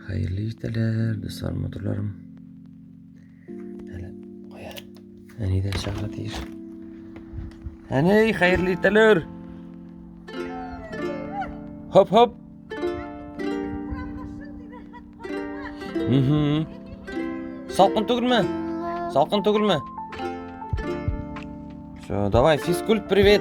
Хәерле иртәләр, дуслар, матурларым. Әле кая? Әни дә чыгарга тиеш. Әни, хәерле иртәләр. Хоп, хоп. Мм. Салкын түгелме? Салкын түгелме? Все, давай, физкульт, привет.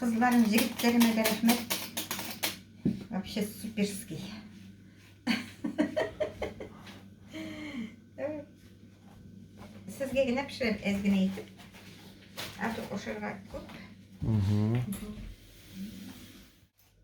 Кызларым, җегетләремә дә рәхмәт. Вообще суперский. Сезгә генә пешерәм, әз генә итеп. Ә то ашарга күп.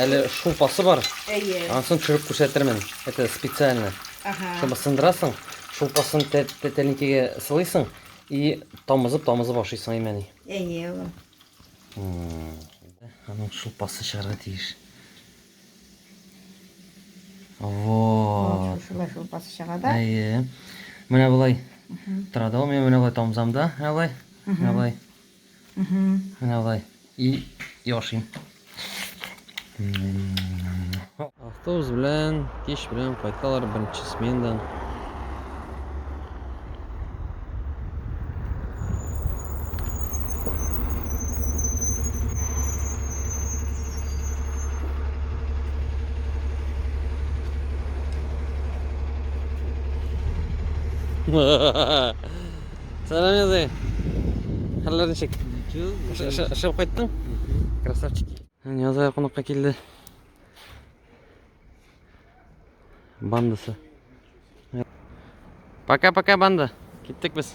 Әле шулпасы бар. Әйе. Ансын төшереп күрсәтермен. Это специально. Ага. Шуны сындырасың, шулпасын тәлинкәгә сылыйсың и тамызып тамызып ашыйсың имәни. Әйе, улым. Аның шулпасы чыгарга тиеш. Вот. Шулай шулпасы чыга да. Әйе. Менә болай. Тора да ул менә болай тамзамда, менә болай. Менә болай. Менә алай. И яшим. Автобус белән, кич белән кайталар беренче смендан. Ha ha ha. Сәлам язай. Хәлләр ничек? Эшләп кайттың? Красавчик. Язай кунакка килде. Бандасы. Пока-пока банда. Киттек без.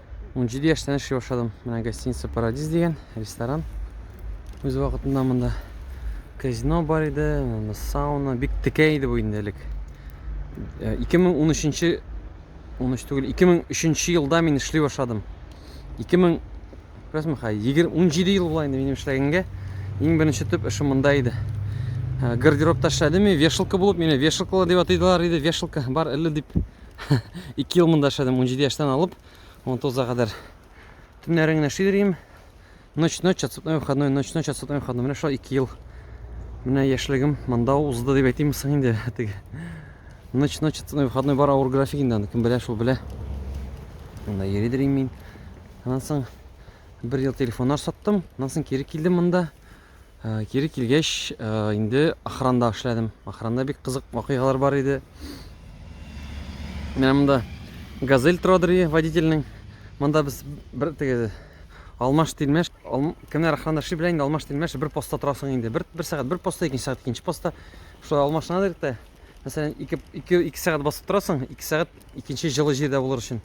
17 яшьтән эшли башладым. Менә гостиница Парадис дигән ресторан. Үз вакытында монда казино бар иде, монда сауна, бик текә иде бу инде элек. 2013 э, 13 түгел, 2003 елда мин эшли башладым. 2000 Күрәсме, хай, 17 ел була инде минем эшләгәнгә. Иң беренче төп эшем монда иде. Э, гардеробта эшләдем, вешалка булып, мине вешалкалар дип атыйдылар иде, вешалка бар әле дип. 2 ел монда эшләдем, 17 яшьтән алып 19-га кадәр. Төннәрен генә эшли йөрим. Ночь, ночь, отсутной выходной, ночь, ночь, отсутной выходной. Менә шулай 2 ел. Менә яшьлегем монда узды дип әйтимме соң инде. Теге ночь, ночь, отсутной выходной бар авыр график инде аны кем белә, шул белә. Монда йөридер мин. Аннан соң бер ел телефоннар саттым. Аннан соң кире килдем монда. Э, кире килгәч э, инде охранда эшләдем охранда бик кызык вакыйгалар бар иде менә монда газель торадыр водительнең монда без бер теге алмаш тилмәш ал, кемнәр охранда эшли белә инде алмаш тилмәш бер постта торасың инде бер, бер сәгать бер постта икенче сәгать икенче постта шулай алмашына директә мәсәлән ике, ике, ике сәгать басып торасың ике сәгать икенче җылы җирдә булыр өчен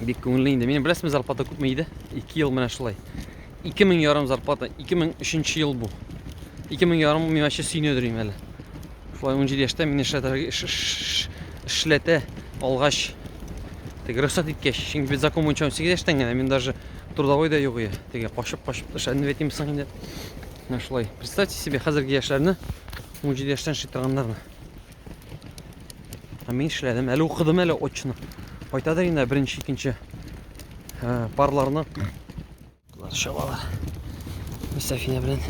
бик күңелле инде менә беләсезме зарплата күпме иде ике ел менә шулай ике мең ярым зарплата ике мең өченче ел бу ике мең ярым миңа чи сөйнедер име әле шулай унҗиде яшьтә мине эшләтә алгач теге рөхсәт иткәч чөнки без закон буенча унсигез яшьтән генә мин даже трудовой да юк теге качып качып эшләнеп әйтим соң инде менә шулай представьте себе хәзерге яшьләрне унҗиде яшьтән эшли торганнарны Ә мин эшләдем, әле укыдым әле очны. Кайтадыр инде беренче, икенче ә, парларны. Болар чабалар. Мисафина белән.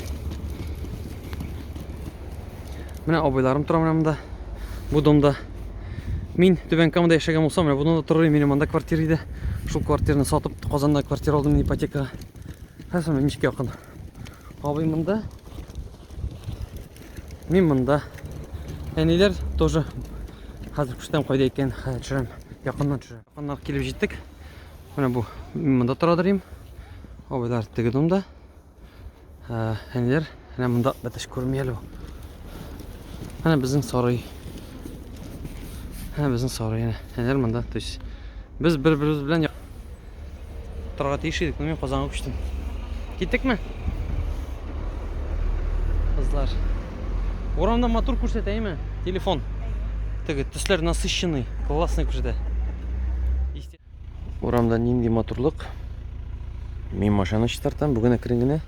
Менә абыйларым тора менә монда. Бу домда. Мин Түбән Камада яшәгән булсам, менә бунда торыр идем, монда квартира иде. Шул квартираны сатып, Казанда квартира алдым ипотекага. Хәзер ничек якын. Абый монда. Мин монда. Әниләр тоже хәзер күрсәтәм кайда икән, хәзер төшерәм. Якыннан төшерәм. Якыннан килеп җиттек. Менә бу мин монда тора дөрим. Абайлар теге домда. Ә, әниләр менә монда бәтәш күрми әле. Менә безнең сарай. Менә безнең сарай. Әниләр монда, то есть без бер-беребез белән Торга тиеш идек, но мин Казанга күчтем. Киттекме? Кызлар. Урамда матур күрсәтә, әйме? Телефон. Теге төсләр насыщенный, классный күрсәтә. Урамда нинди матурлык. Мин машина чистартам, бүген әкрен генә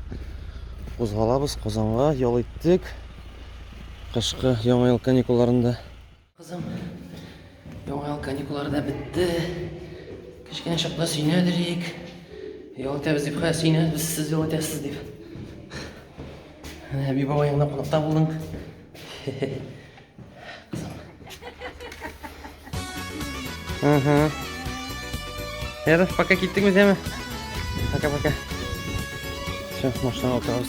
кузгалабыз Казанга, ял иттек. Кышкы яңа ел каникулларында Кызым, яңа ел каникуллары да бетте. Кечкенә чакта сөйнәдерик. Ял итәбез дип, хә, сөйнәбез, сез ял итәсез дип. Әби баба янына кунакта булдың. Ага. Яры, пока киттек без яме. Пока-пока. Все, машина отырабыз.